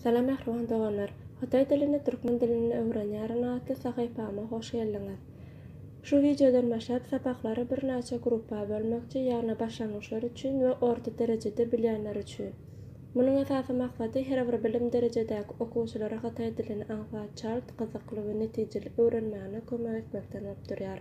Salam mähriban doganlar! Hytaý dilini türkmen dilinde öwrenýärin atly sahypama hoş geldiňiz! Şu wideodan başlap sapaklary birnäçe gruppa bölmekçi, ýagny başlangyçlar üçin we orta derejede bilýänler üçin. Munuň esasy maksady her bir bilim derejedäki okuwçylara hytaý dilini aňsat, çalt, gyzykly we netijeli öwrenmäne kömek etmekden bolup durýar.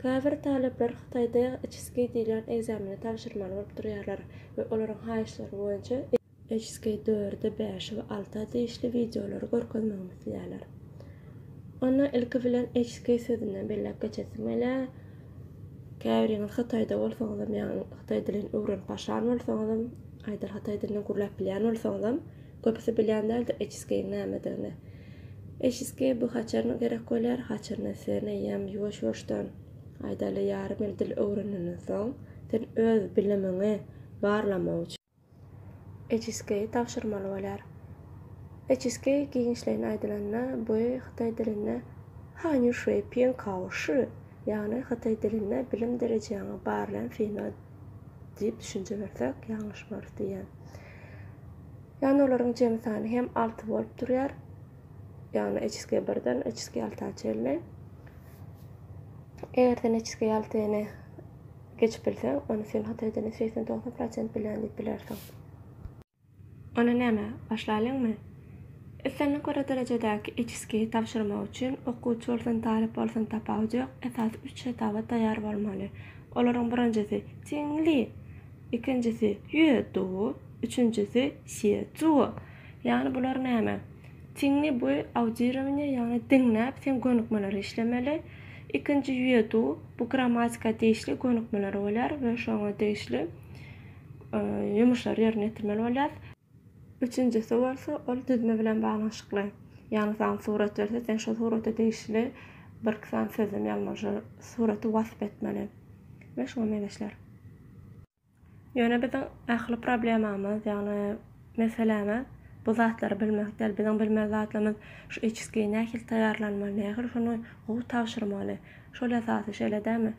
Käbir talyplar Hytaýda HSK diýlen ekzameni tabşyrmaly bolup durýarlar we olaryň haýyşlary boýunça HSK dörde, bäşe we alta degişli wideolary görkezmegimi isleýärler. Onda ilki bilen HSK sözünden belläp geçesim gelýär. Käbiriňiz Hytaýda bolsaňyzam ýa-ni hytaý dilini öwrenip başlan bolsaňyzam, aýdar hytaý dilinde gürläp bilýän bolsaňyzam, Köpüsi bilýän däldir eçiskeýiň nämedigini. Eçiskeý bu haçaryna gerek bolýar, haçaryna sen eýýäm ýuwaş-ýuwaşdan, aýdaly, ýarym ýyl dil öwrenenden soň, sen öz bilimiňi barlamak üçin, eçiskeýi tabşyrmaly bolýar. Eçiskeý giňişleýin aýdylanda, bu hytaý dilinde hanýu şüi piň kao şü, ýagny hytaý dilinde bilim derejäňi barlaýan synag diýip düşünje bersek, ýalňyşmarys diýýän. Ýagny olaryň jemi sany hem alty bolup durýar. Ýagny HSG birden HSG alta çenli. Eger sen HSG altyny geçip bilseň, onda sen Hytaýdan hem segsen togsan prosent bilýän diýip bilersiň. Onda näme, başlaýlyňmy? Islendik bir derejedäki HSG tabşyrmak üçin okuwçy bolsun, talyp bolsun tapawudy ýok, esasy üç hetaba taýýar bolmaly. Olaryň birinjisi, Tiňli! Ikinjisi Ýue Duo, üçünjisi Sýe Zuo. Ýagny bular näme? Tinni bu audirowaniýe ýagny diňläp sen gönükmeleri işlemeli. Ikinji Ýue Duo bu grammatika degişli gönükmeler bolýar we şoňa degişli ýumuşlary ýerine ýetirmeli bolýas. Üçünjisi bolsa, ol düzme bilen baglanyşykly. Ýagny saňa surat berse, sen şo surata degişli birki sany sözlem ýazmaly, şo suraty wasp etmeli we şuňa meňzeşler. Ýöne biziň ähli problemamyz, ýagny meselämiz bu zatlary bilmek däl. Biziň bilmeli zatlarymyz şu HSG-i nähili taýýarlanmaly, nähili şony gowy tabşyrmaly, Şol esasy şeýle dämi?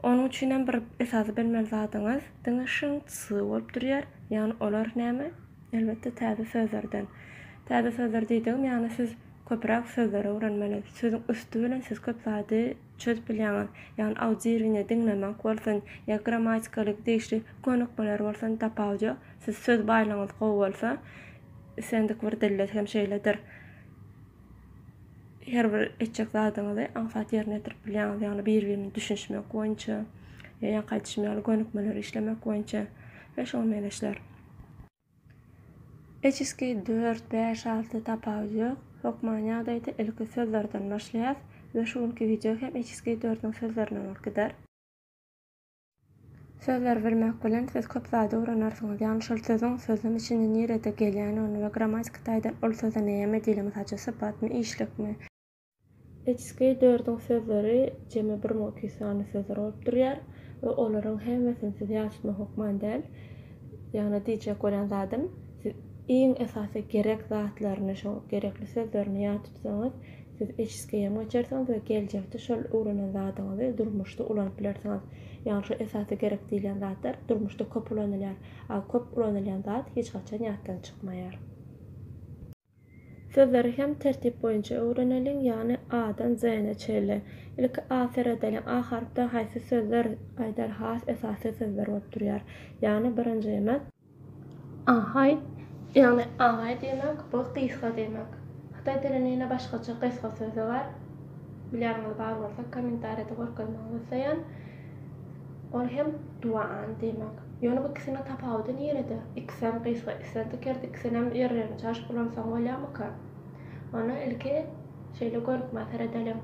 Onuň üçinem bir esasy bilmeli zadyňyz diňe şyňt-sy bolup durýar. Ýagny olar näme? Elbetde täze sözlerden. Täze sözler diýdigim ýagny siz köpüräk sözleri öwrenmeli. Sözüň üsti bilen siz köp zady çözüp bilýäňiz. Ýagny audiwirine diňlemek bolsun ýa grammatikaly degişli könükmeler bolsun tapawudy ýok. Siz söz baýlygyňyz gowy bolsa islendik bir dilde hem şeýledir. her bir etjek zadyňyzy aňsat ýerine ýetirip bilýäňiz. Ýagny bir-birine düşünişmek boýunça, ýaňky aýdyşym ýaly gönükmeleri işlemek boýunça we şoňa meňzeşler. Eçiski dört, bäş, alty tapawudy ýok. Hökman ýagdaýda ilki sözlerden başlaýas we şu günki wideo hem eçiski dördüň sözlerinden bolup gider. Sözleri bilmek bilen siz köp zady öwrenarsiňiz. Ýagny şol sözüň sözlem içinde nirede gelýändigini we grammatiki taýdan ol söze näme diýilýär, mysal üçin sypatmy, işlikmi, Içki dördüň sözleri jemi bir müň iki ýüz sany sözler bolup durýar we olaryň hemmesini siz ýat tutmak hökman däl. Ýagny diýjek bolýan zadym, siz iň esasy gerek zatlaryny, şoň gerekli sözlerini ýat tutsaňyz, Siz HSG-ýam geçersiňiz we geljekde şol öwrenen zadyňyzy durmuşda ulanyp bilersiňiz. Ýagny şu esasy gerek diýilýän zatlar durmuşda köp ulanylýar, a köp ulanylýan zat hiç haçan ýatdan çykmaýar. Sözleri hem tertip boýunça öwreneliň, ýagny A-dan Z-ne çenli. Ilki A seredeliň. A harpdan haýsy sözler aýdar has esasy sözler bolup durýar. Ýagny birinjimiz. Ahaý, ýagny agaý diýmek, bu gysga diýmek. Hytaý dilinde ýene başgaça gysga sözi bar. Bilýäniňiz bar bolsa, kommentariýada görkezmegi isleýän. Ol hem duan diýmek. Ýöne bu ikisiniň tapawudy nirede? Ikisem gysga, islendik ýerde ikisinem ýerlerini çaşyp ulansaň bolýarmyka? Ony ilki şeýle görüp maşgala edeliň.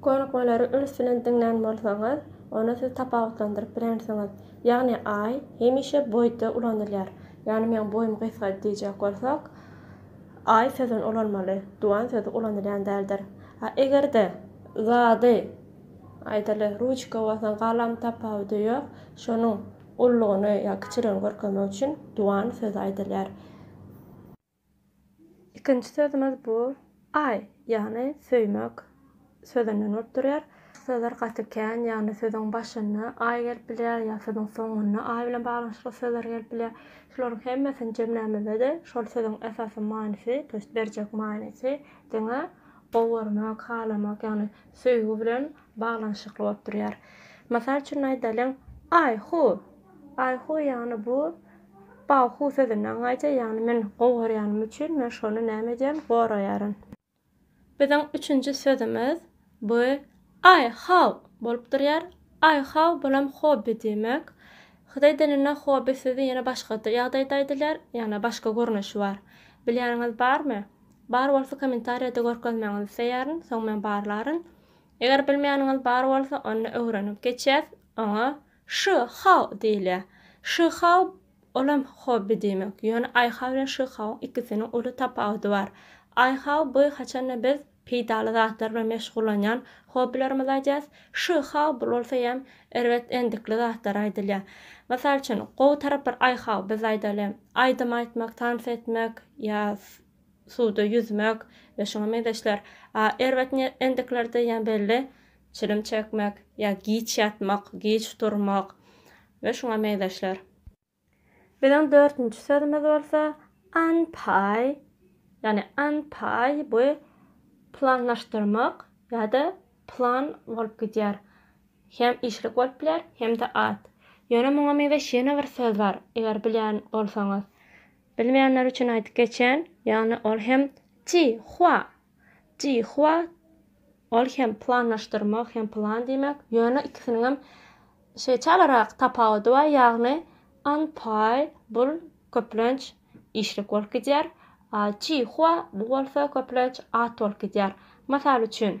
Konukmalary üns bilen diňlän bolsaňyz, onda siz tapawutlandyryp bilersiňiz. Ýagny I hemişe boýda ulanylýar. Ýagny meň boýum gysga diýjek bolsak, I sözüni ulanmaly, duan sözi ulanylýan däldir. A eger-de zady, aýdaly, ruçka bolsa galam tapawudy ýok, şonuň ululygyny ýa kiçiligini görkezmek üçin duan sözi aýdylýar. Ikinji sözümiz bu I ýagny söýmek sözünden bolup durýar. Sözler gaty kän, ýagny sözüň başynda I gelip bilýär ýa sözüň soňunda I bilen baglanyşykly sözler gelip bilýär. Şularyň hemmesini jemlämizde-de şol sözüň esasy manysy, to ýest berjek manysy diňe gowermek, halamak, ýagny söýgi bilen baglanyşykly bolup durýar. Mysal üçin aýdalyň, I who Baýhu, ýagny bu Bawhu sözünden gaýdýar, ýagny men gowy görýänim üçin, men şony näme edýän, goraýaryn. Biziň üçünji sözümiz bu Aý haw! bolup durýar. Aý haw! bulam hobby diýmek. Hytaý dilinde hobby sözi ýene başga ýagdaýda aýdylýar, ýagny başga görnüşi bar. Bilýäniňiz barmy? Bar bolsa kommentariýada görkezmegiňizi isleýärin, soň men barlaryn. Eger bilmeýäniňiz bar bolsa, onda öwrenip geçýäs, oňa Szy Hao diýilýär. Szy Hao olam hobby diýmek. Ýöne Aý Hao bilen Szy Haoň ikisiniň uly tapawudy bar. Aý Hao bu haçanda biz peýdaly zatlar bilen meşgullanýan hobbylarymyzy aýdýarys. Szy Hao bu bolsa ýam erbet endikli zatlar aýdylýar. Mysal üçin gowy taraplar Aý Hao biz aýdaly aýdym aýtmak, tans etmek ýa suwda ýüzmek we şuňa meňzeşler. A erbet endiklerde ýam belli çilim çekmek ýa giç ýatmak, giç durmak we şuňa meňzeşler. Biziň dörtünji sözümiz bolsa anpay, ýagny anpay bu planlaşdyrmak ýa-da plan bolup gidýär. Hem işlik bolup biler, hem-de at. Ýöne muňa meňzeş ýene bir söz bar, eger bilýän bolsaňyz. Bilmeýänler üçin aýdyp geçen, ýagny ol hem ti hua Jihua ol hem planlaşdyrmak hem plan diýmek, ýöne ikisiniňem şeýçalerak tapawudy bar, ýagny Anpay bul köplenç işlik bolup gidýär, a Jihua bu bolsa köplenç at bolup gidýär. Mysal üçin.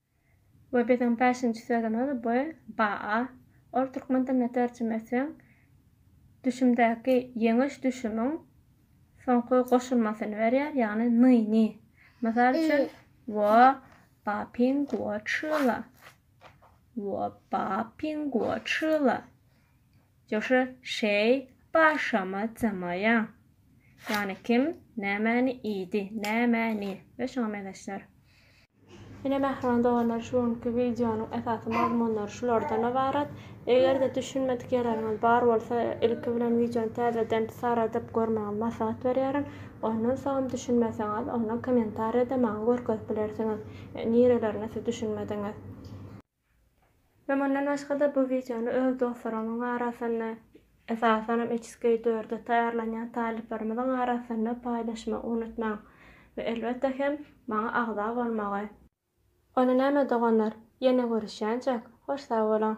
We biziň bäşinji sözümiz bu baa. Ol türkmen diline terjime etseň düşümdäki ýeňiş düşümiň soňky goşulmasyny berýär, ýagny nyny. Mysal üçin, wo ba ping guo chi le. Wo ba ping guo chi le. Joşa şeý başama jymaýaň. Ýagny kim nämäni iýdi, nämäni we şuňa meňzeşler. Ine mähriban doganlar şu günki wideonyň esasy mazmunlary şulardan ybarat. Eger-de düşünmedik ýerleriňiz bar bolsa ilki bilen wideony täzeden saradyp görmegiňizi maslahat berýärin. Ondan soňam düşünmeseňiz onda kommentariýada maňa görkezip bilersiňiz nireleriňe siz düşünmediňiz. Hem ondan başga-da bu wideony öz dostlarymyň arasynda, esasanam HSK dörde taýýarlanýan talyplarymyzyň arasynda paýlaşmagy unutmaň we elbetde hem maňa agza bolmagy. Onda näme doganlar, ýene görüşýänçäk, hoş sag boluň!